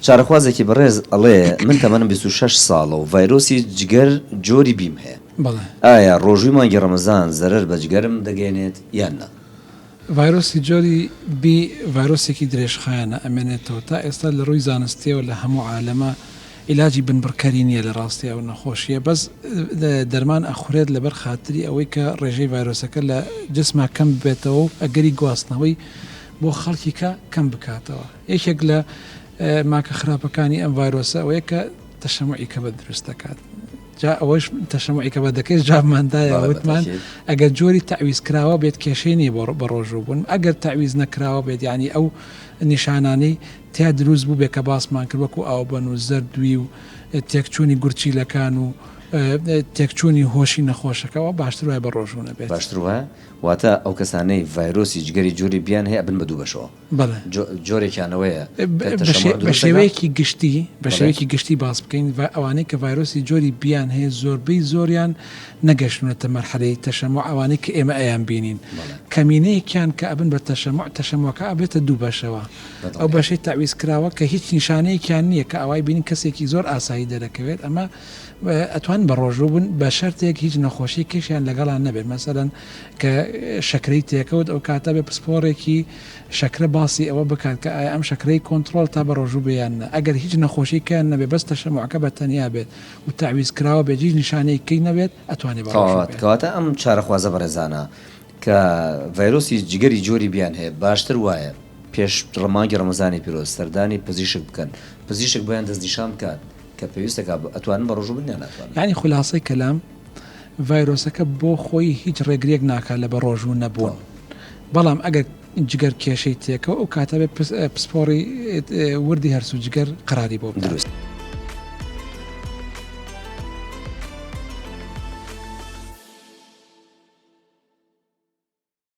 چارەخوازێکی بەڕێز ئەڵێ من تەمەنم بیست و شەش ساڵە و ڤایرۆسی جگەر جۆری بیم هەیە ئایا ڕۆژووی مانگی ڕەمەزان زەرەر بە جگەرم دەگەێنێت یان نا؟ ڤایرۆسی جۆری بی ڤایرۆسێکی درێژخایەنە ئەمێنێتەوە تا ئێستا لە ڕووی زانستیەوە لە هەموو عالەما ئیلاجی بنبڕکەری نیە لە ڕاستی ئەو نەخۆشیە بەس دەرمان ئەخورێت لەبەر خاتری ئەوەی کە ڕێژەی ڤایرۆسەکە لە جسما کەم ببێتەوە و ئەگەری گواستنەوەی بۆ خەڵکیکە کەم بکاتەوە. یەکێک لە ماکە خراپەکانی ئەم ڤایرۆسە ئەوەیە کە تەشەمعی کەبە دروست دەکات جا ئەوەش تەشەمعی کەبە دەکەێت جابماندایە وتمان ئەگەر جۆری تعویز کراوە بێت کێشەی نیە بۆ بە ڕۆژوو بوون ئەگەر تعویز نەکراوە بێت ینی ئەو نیشانانەی تیا دروست بوو بێ کە باسمان کرد وەکو ئاو بەن و زەردوی و تێکچوونی گورچیلەکان و تێکچوونی هۆشی نەخۆشەکەەوە باشتر وای بە ڕۆژوونە بێت باشتر وایە واتە ئەو کەسانەی ڤایرۆسی جگەری جۆری بیان هەیە بن بە دوو بەشەوە بەڵێ. جۆرێکیانەوەیە کە تەشەموع دروست دەکات. بەشێوەیەکی گشتی، بەشێوەیەکی گشتی باس بکەین، ئەوانەی کە ڤایرۆسی جۆری B یان هەیە زۆربەی زۆریان نەگەشتونەتە مەرحەلەی تەشەموع ئەوانەی کە ئێمە ئەیان بینین. کەمینەیەکیان کە ئەبن بە تەشەموع، تەشەموعەکە ئەبێتە دوو بەشەوە. ئەو بەشەی تەعویزکراوە کە هیچ نیشانەیەکیان نییە کە ئەوای بینین کەسێکی زۆر ئاسایی دەرەکەوێت، ئەمە ئەتوانن بەڕۆژوو بن بە شەرتێک هیچ نەخۆشیکیشیان لەگەڵا نەبێت مەسەلەن کە شەکرەی تێکەوت ئەوکاتە بێ پسپۆڕێکی شەکرە باسی ئەوە بکات کە ئایا ئەم شەکرەی کۆنتڕۆڵ تا بەڕۆژوو بێ یان نا ئەگەر هیچ نەخۆشیکیان نەبێ بەس تەشەموعەکە بە تەنیا بێت و تەعویز کراوە بێت هیچ نیشانەیەکی نەبێت ئەتوانێ بەڕۆژوو بێت. کەواتە ئەم چارەخوازە بەڕێزانە کە ڤایرۆسی جگەری جۆری بیان هەیە باشتر وایە پێش مانگی ڕەمەزانی پیرۆز سەردانی پزیشک بکەن پزیشک بۆیان دەستنیشان بکات کە پێویستە کا ئەتوانن بەڕۆژوو بن یان ناتوانن؟ یانی خولاسەی کەلام ڤایرۆسەکە بۆ خۆی هیچ ڕێگریەک ناکات لە بەڕۆژوو نەبوون بەڵام ئەگەر جگەر کێشەی تێکەوە ئەو کاتە بێت پسپۆڕی وردی هەرسو جگەر قەراری بۆ دروست.